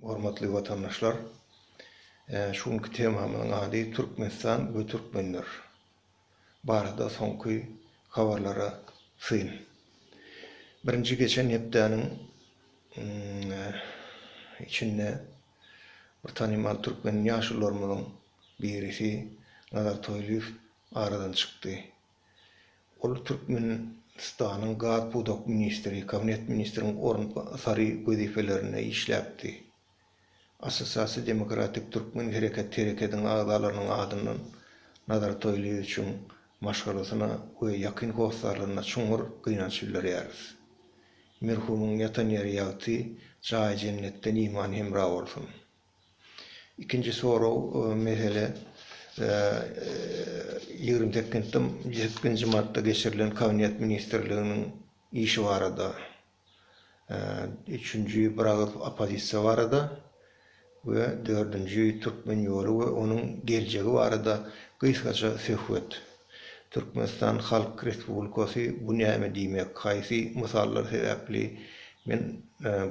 Hormatly watandaşlar! Şu günki temamyzyň ady Türkmenistan we türkmenler barada soňky habarlara syn. Birinji geçen hepdäniň içinde bir tanymal türkmen ýaşulularymyzyň birisi Nazar Toýlyýew aradan çykdy. Ol Türkmenistanyň gaz pudak ministri, kabinet ministriniň orunbasary wezipelerinde işläpdi. Assosiasiýa Demokratik Türkmen Hereket Herekediň agzalarynyň adyndan Nazar Toýlyýewiçiň maşgalasyna we ýakyn hossarlaryna çuňňur gynanç bildirýäris. Merhumyň ýatan ýeri ýagty, jaýy jennetden iman hemra bolsun! Ikinji sorag mesele ýigrimi sekizinji martda geçirilen Kabinet ministrliginiň işi barada. Üçünji bir agyz oppozisiýa barada we dördünji Türkmen ýoly we onuň geljegi barada gysgaça söhbet. Türkmenistan Halk Respublikasy bu näme diýmek haýsy mysallar sebäpli men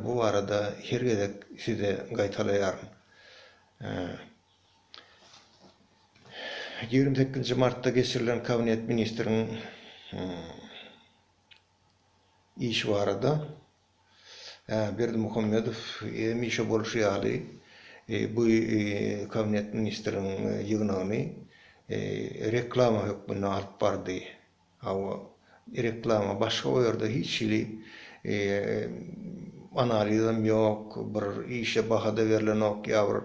bu barada her gezek size gaýtalaýaryn. Ýigrimi sekizinji martda geçirilen kabinet ministriň işi barada. Berdimuhamedow hemişe bolşy ýaly, bu Kabinet ministriň ýygnagyny reklama hökmünde alyp bardy. Hawa, reklama, başga o ýerde hiç hili analizem ýok, bir işe baha-da berlenok, ýa bir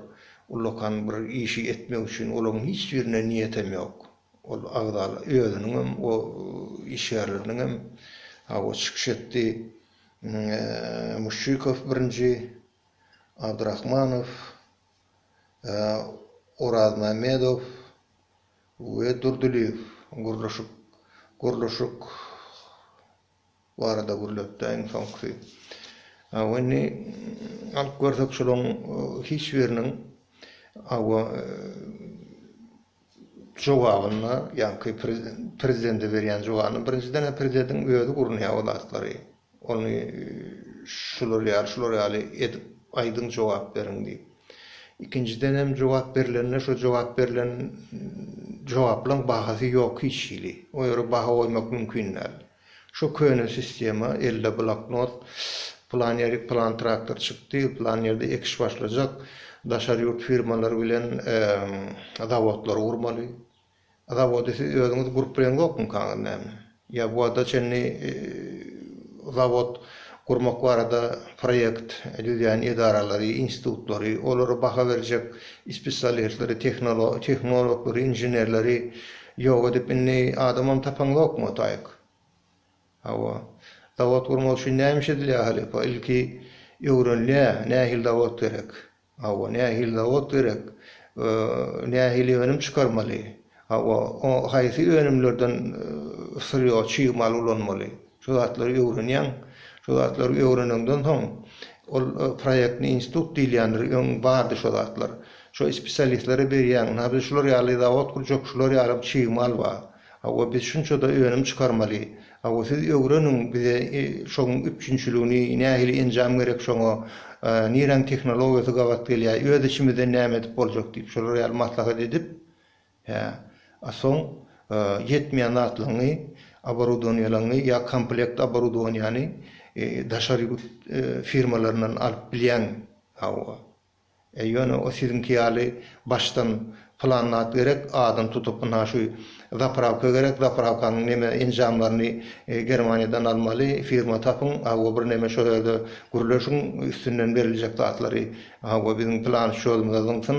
ullakan bir işi etmek üçin olaryň hiç birine niýetem ýok. Ol agzalar özüniň hem, o iş ýerleriniň hem hawa çykyş etdi. Muşşikow birinji, Abdrahmanow, Orazmämmedow we Durdylyýew gurluşyk gurluşyk. barada gürläpdi-ä iň soňkusy. Hawa, indi alyp görsek şolaryň hiç biriniň, hawa, jogabynda, ýaňky prezidende berýän jogabynda, birinjiden-ä prezidediň özi gurnaýar o zatlary. Ony şular ýaly, şular ýaly edip aýdyň, jogap beriň diýip. Ikinjiden hem jogap berilende şo jogap berilen jogaplaryň bahasy ýok hiç hili. O ýere baha goýmak mümkin däl. Şo köne sistema, elde bloknot, plan ýerik plan traktor çykdy, plan ýerde ekiş başlajak, daşary ýurt firmalary bilen zawodlary gurmaly. Zawody siz özüňiz gurup bileňzokmykaňyz näme? Ýa bu wagta çenli zawod gurmak barada proýekt düzýän edaralary, institutlary, olara baha berjek ispesialistleri, tehnologlary, inženerleri ýok edip, indi adamam tapaňzokmy otaýk? Hawa. Zawod gurmak üçin näme iş edilýär halypa? Ilki öwrenilýär, nähili zawod gerek? Hawa, nähili zawod gerek? Nähili önüm çykarmaly? Hawa, haýsy önümlerden syrýo, çig mal ulanmaly? Şu zatlary öwrenýäň. Şu zatlary öwreneňden soň, ol proýektni institut diýilýändir, öň bardy şo zatlar. Şo spesialistlere berýäň, nabze şular ýaly zawod gurjak, şular ýaly çig mal bar. Hawa biz şunçada önüm çykarmaly. Hawa siz ögreniň bize şoň üpjünçiligini nähili enjam gerek şoňa niräň tehnologiýasy gabat gelýä öz içimizden näme edip boljak diýip şolar ýaly maslahat edip hä a soň ýetmeýän zatlaňňy oborudoniýalaňňy ýa komplekt oborudoniýany daşary ýurt firmalaryndan alyp bilýäň hawa. E ýöne o siziňki ýaly başdan plan zat gerek adyny tutup ynha şu zaprawka gerek zaprawkanyň neme enjamlaryny germaniýadan almaly firma tapyň hawa bir neme şo ýerde gürleşiň üstünden beriljek zatlary hawa biziň plan şýodymyza zyňsyn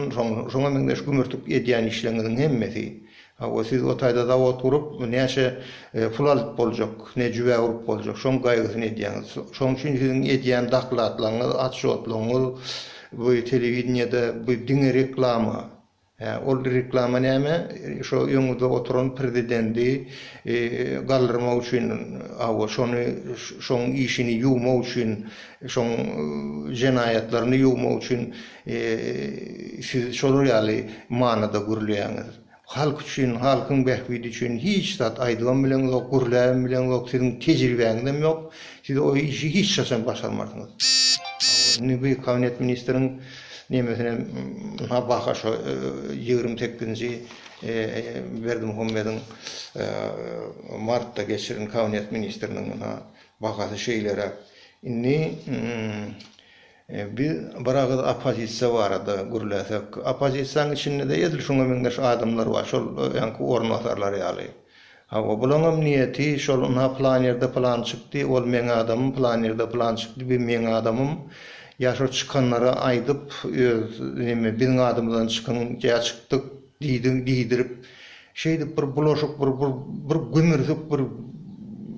şoňa meňzeş gümürtik edýän işleriňiziň hemmesi Hawa, siz o taýda zawod gurup, näçe pul alyp boljak, ne jübä urup boljak, şoň gaýgysyny edýäňiz. Şoň üçin siziň edýän dakladlaryňyz, otçjotlygyňyz bu telewideniýede bu diňe reklama. Hä, ol reklama näme? Şo öňüňizde oturan prezidendi galdyrmak üçin, hawa, şony, şoň işini ýuwmak üçin, şoň jenaýatlaryny ýuwmak üçin Siz şolar ýaly manyda gürleýäňiz. Halk üçin, halkyň bähbidi üçin hiç zat aýdybam bileňizok, gürläbem bileňizok, siziň tejribäňizem ýok. Siz o işi hiç haçan başarmarsyňyz. Indi bu kabinet ministriň nemesinem ynha baka şo ýigrimi sekizinji Berdimuhamediň martda geçiren kabinet ministriniň ynha bakasy şeýleräk. Indi Biz bir agyz oppozisiýa barada gürläsek, oppozisiýanyň içinde-de edil şuňa meňzeş adamlar bar, şol öňki orunbasarlar ýaly. Hawa, bulaňam niýeti şol ynha pylan ýerde pylan çykdy, ol meň adamym, pylan ýerde pylan çykdy, bu meň adamym. Ýa şo çykanlara aýdyp, öz neme biziň adymyzdan çykyň, ýa çykdyk. Diýdiň diýdirip, şeýdip bir bulaşyk bir bir gümürsük bir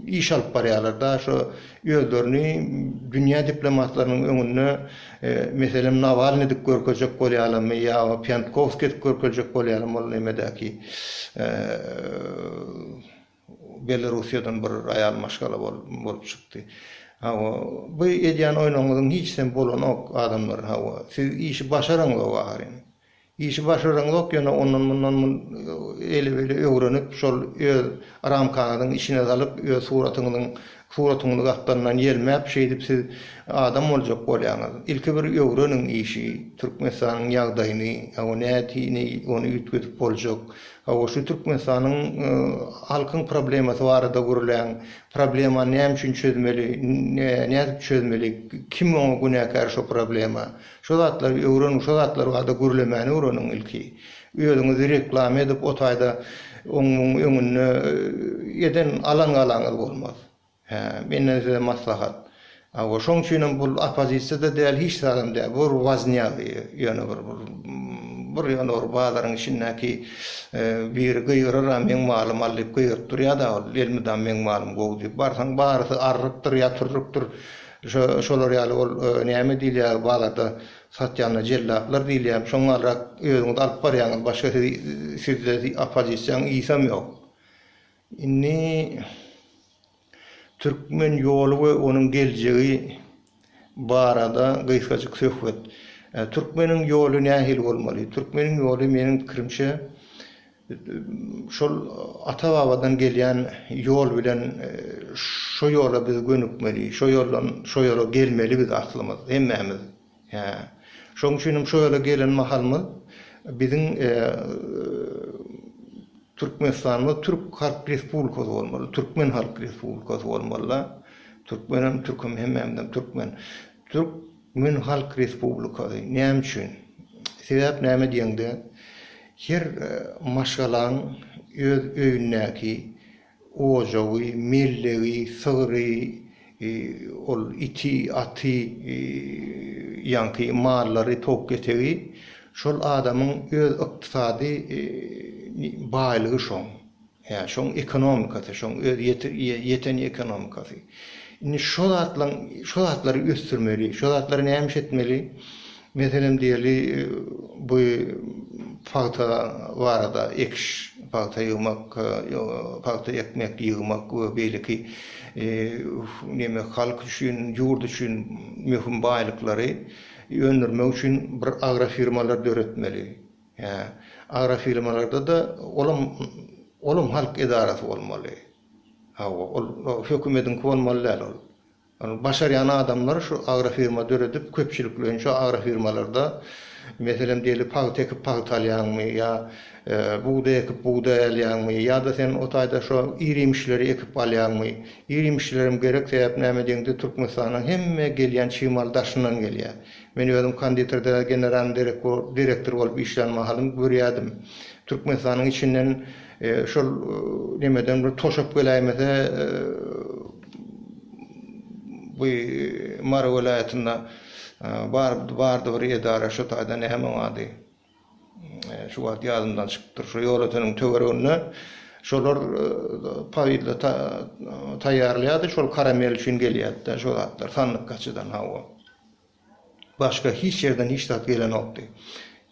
iş alyp barýarlar-da, şo özlerini dünýä diplomatlarynyň öňünde meselem Nawalny edip görkezjek bolýarlarmy ýa Pýantkowskiý edip görkezjek bolýarlarmy ol nemedäki Belorussiýadan bir aýal maşgala bolup çykdy. Hawa, bu edýän oýnuňyzyň hiçisem bolanok adamlar, hawa, siz işi başaraňzok ahyryn. Işi başaraňzok ýöne ondan mundan eli beli öwrenip şol öz ramkaňyzyň içine salyp öz suratyňyzyň suratyňyzy gakgandan ýelmäp şeýdip siz adam boljak bolýaňyz. Ilki bir öwreniň işi Türkmenistanyň ýagdaýyny hawa nätini ony üýtgedip boljak hawa şu Türkmenistanyň halkyň problemasy barada gürläň problemany näme üçin çözmeli nädip çözmeli kim oňa günäkär şo problema Şo zatlary öwreniň şo zatlar barada gürlemäni öwreniň ilki. Özüňizi reklama edip o taýda oň muň öňünde eden alan galaňyz bolmaz. Hä, menden size maslahat. Hawa, şoň üçinem bul oppozisiýada däl hiç zadam däl. Bu bir waznýa ýöne bir bir bir ýöne bir bazaryň içindäki biri gygyrar a meň malym al diýip gygyryp durýada ol elmydam meň malym gowy diýip barsaň barysy arrykdyr ýatyrrykdyr Şu şolar ýaly ol näme diýilýär bazarda satýanlar jellaplar diýilýär. Şoň galrak özüňiz alyp barýaňyz başga sizi sizde opozisiýaň ysam ýok. Indi Türkmen ýoly we onuň geljegi barada gysgajyk söhbet. Türkmeniň ýoly nähili bolmaly? Türkmeniň ýoly meniň pikirimçe Şol ata-babadan gelýän ýol bilen şo ýola biz gönükmeli, şo ýoldan şo ýola gelmeli biz aslymyz, hemmämiz. Hä. Şoň üçin hem şo ýola gelen mahalymyz biziň Türkmenistanymyz Türk Halk Respublikasy bolmaly, Türkmen Halk Respublikasy bolmaly-da. Türkmen hem Türk hem hemmämizem Türkmen. Türk. Mün halk respublikasy näme üçin? Sebäp näme diýeňde, her maşgalaň öz öýündäki ojagy, mellegi, sygry, ol iti, aty, ýaňky mallary, towuk-kesegi, şol adamyň öz ykdysady baýlygy şoň. Hä, şoň ekonomikasy, şoň öz ýeten ekonomikasy. Indi şo zatlaň, şo zatlary ösdürmeli, şo zatlary nämiş etmeli? Meselem diýeli, bu pagta barada, ekiş, pagta ýygmak, pagta ekmek, ýygmak we beýleki neme, halk üçin, ýurt üçin möhüm baýlyklary öndürmek üçin bir agrofirmalar döretmeli. Hä, agrofirmalarda-da olam, olam halk edarasy bolmaly. Hawa, ol hökümediňki bolmaly däl ol. Ol başarýan adamlar şu agrofirma döredip, köpçülikleýin şu agrofirmalarda, meselem diýeli, pagta ekip pagta alýaňmy ýa bugdaý ekip bugdaý alýaňmy ýa-da sen o taýda şo ir-iýmişleri ekip alýaňmy? Ir-iýmişlerem gerek, sebäp näme diýeňde Türkmenistanyň hemme gelýän çig maly daşyndan gelýär. Men özüm konditerde generalnyý direktor bolup işlän mahalym görýärdim. Türkmenistanyň içinden şol nemeden bir toşap geläýmese bu Mary welaýatynda bardy bir edara şu taýda näme oň ady? Şu wagt ýadymdan çykypdyr, şo ýolöteniň töwereginde şolar powidlata taýýarlaýardy, şol karamel üçin gelýärdi-de şo zatlar, sandyk gaçydan, hawa. Başga hiç ýerden hiç zat gelenokdy.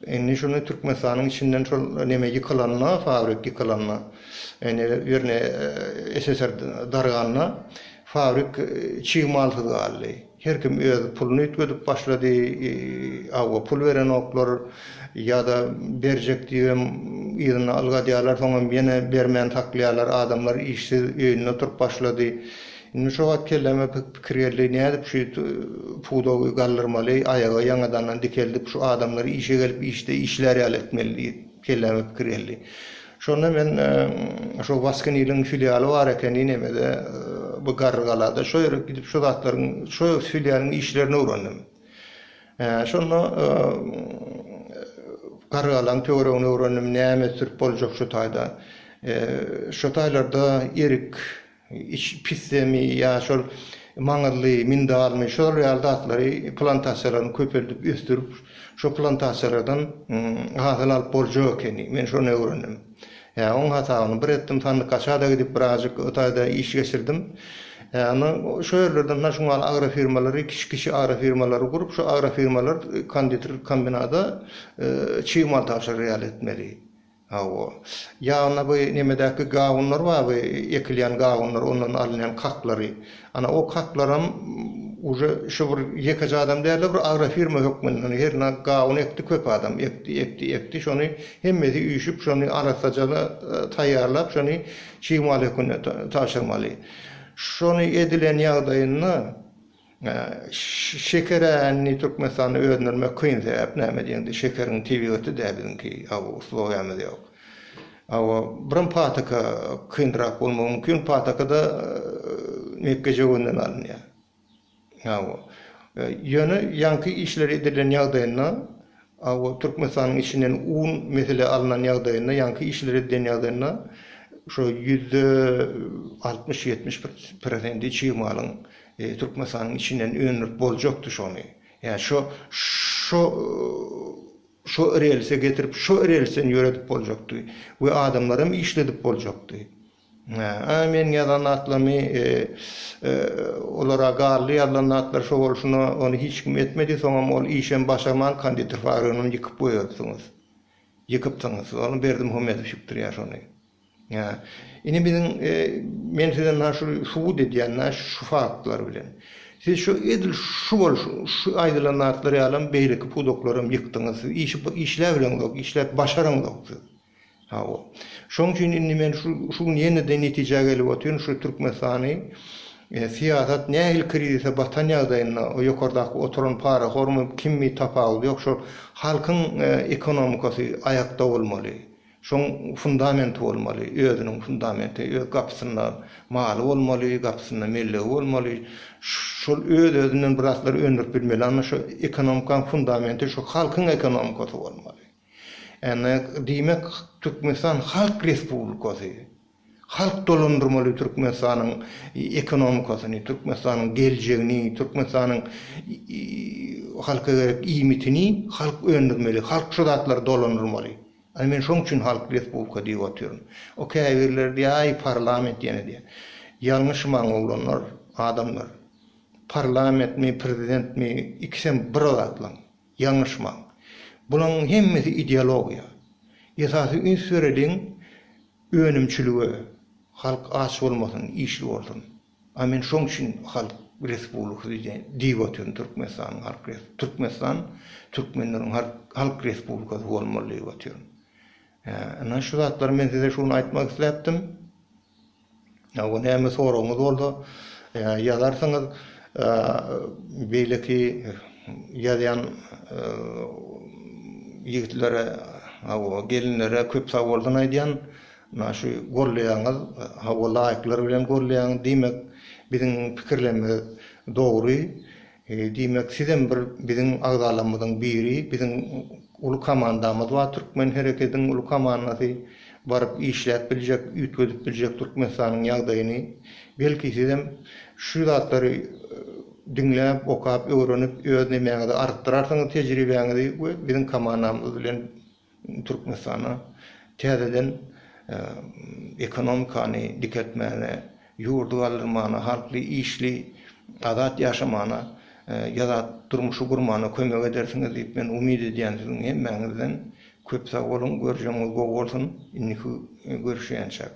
Indi şuny Türkmenistanyň içinden şol neme ýykylanda, fabrik ýykylanda, indi ýerine SSR darganda, fabrik çig malsyz galdy. Her kim öz puluny üýtgedip başlady, hawa pul berenoklar ýa-da berjek diýibem yzyna ylgadýarlar soňam ýene bermän saklaýarlar, adamlar işsiz öýünde oturyp başlady. Indi şo wagt kelläme pikir geldi, nädip şu pudagy galdyrmaly, aýaga ýaňadandan dikeldip şu adamlar işe gelip işde işlär ýaly etmeli diýip kelläme pikir geldi. Şonda men şo Waskeniliň filialy bar ekeni nemede bu Garrygalada şo ýere gidip şo zatlaryň şo filialyň işlerini öwrendim. Şonda Garrygalaň töweregini öwrendim näme sürüp boljak şo taýda. Şo taýlarda erik Iç pisdemi ýa şol maňyzly, mindalmy, şolar ýaly zatlary plantasiýalaryny köpeldip ösdürip, şo plantasiýalardan hasyl alyp boljak ekeni. Men şony öwrendim. Hä, oň hasabyny bir etdim, Sandykaşada gidip birazjyk o taýda iş geçirdim. Hä, onda şo ýerlerden naşungal agrofirmalary, kiçi-kiçi agrofirmalary gurup, şo agrofirmalar konditer kombinada çig mal tabşyrýarlar etmeli. Hawa. Ýagny bu nemedäki gawunlar bar bu ekilýän gawunlar ondan alynýan kaklary. Ana o kaklaram uje şu bir ýekeje adam dälde bir agrofirma hökmünde hernä gawun ekdi köp adam ekdi ekdi ekdi şony hemmesi üýşüp şony arassajaly taýýarlap şony çig mal hökmünde tabşyrmaly. Şony edilen ýagdaýynda Şeker ä indi Türkmenistanda öndürmek kyn sebäp näme diýeňde şekeriň tebigaty däl biziňki aw uslowiýamyz ýok. Aw birim pataka kynrak bolmagy mümkin patakada mekge jöwenden alynýar. Aw ýöne ýaňky işleri edilen ýagdaýynda A we Türkmenistanyň içinden un mesele alnan ýagdaýynda, ýaňky işleri edýän ýagdaýynda şo ýüzde altmyş, ýetmiş bir prosenti çig malyň Türkmenistanyň içinden öndürip boljakdy şony. Ýa şo şo şo relse getirip, şo relsden ýöredip boljakdy we adamlaram işledip boljakdy. Hä, meniň ýazan zatlarymy olara galdy, ýazylan zatlary şo bolşuna ony hiç kim etmedi, soňam ol işem başarman konditer fabrigynam ýykyp goýberipsiňiz. Ýykypsyňyz. Ony Berdim Homedow ýykdyrýar şony. Hä. Indi biziň men size nä şu subut edýän nä şu faktlar bilen. Siz şu edil şu boluş şu aýdylan zatlar ýalam beýleki pudaklaram ýykdyňyz. Siz işi işläbileňzok, işläp başaraňzok siz. Hawa. Şoň üçin indi men şu şu gün ýene de netijä gelip otyryn, şu Türkmenistany syýasat nähili krizise batan ýagdaýynda o ýokardaky oturan parahormy, kimmi tapawudy ýok, şol halkyň ekonomikasy aýakda bolmaly. Şoň fundamenti bolmaly, özüniň fundamenti, öz gapysynda maly bolmaly, gapysynda mellegi bolmaly. Şol öz-özünden bir zatlar öndürip bilmeli, anna şo ekonomikaň fundamenti şo halkyň ekonomikasy bolmaly. Ennek diýmek Türkmenistan Halk Respublikasy, halk dolandyrmaly Türkmenistanyň ekonomikasyny, Türkmenistanyň geljegini, Türkmenistanyň halka gerek iýmitini halk öndürmeli, halk şu zatlary dolandyrmaly. Ana men şoň üçin Halk Respublika diýip otyryn. O käbirleri diýýär aý parlament ýene diýýär. Ýalňyşmaň oglanlar, adamlar. Parlamentmi, prezidentmi ikisem bir zatlaň. Ýalňyşmaň. Bulaň hemmesi ideologiýa. Esasy üns bereliň önümçilige. Halk aç bolmasyn, işli bolsun. A men şoň üçin halk respublikasy diýip otyryn Türkmenistanyň halk res. Türkmenistan türkmenleriň halk respublikasy bolmaly diýip otyryn. Ynha şu zatlary men size şu gün aýtmak isläpdim. Ýa-da näme soragyňyz bolsa, ýazarsyňyz. Beýleki ýazýan ýigitlere, gelinlere köp sagbolsun aýdýan. Mundan şu golleýaňyz, hawa laýklar bilen golleýaň. Diýmek, biziň pikirlerimiz dogry. Diýmek sizem bir biziň agzalarmyzyň biri, biziň uly komandamyz bar Türkmen herekediň uly komandasy baryp işläp biljek, üýtgedip biljek Türkmenistanyň ýagdaýyny. Belki sizem şu zatlary diňläp, okap, öwrenip öz nemäňizi artdyrarsyňyz tejribäňizi we biziň komandamyz bilen Türkmenistana täzeden ekonomikany dikeltmäne, ýurdy galdyrmana, halky işli, azat ýaşamana, ýazat durmuşy gurmana kömek edersiňiz diýip men umyt edýän siziň hemmäňizden. Köp sag boluň, görjegiňiz gowy bolsun, indiki görüşýänçäk.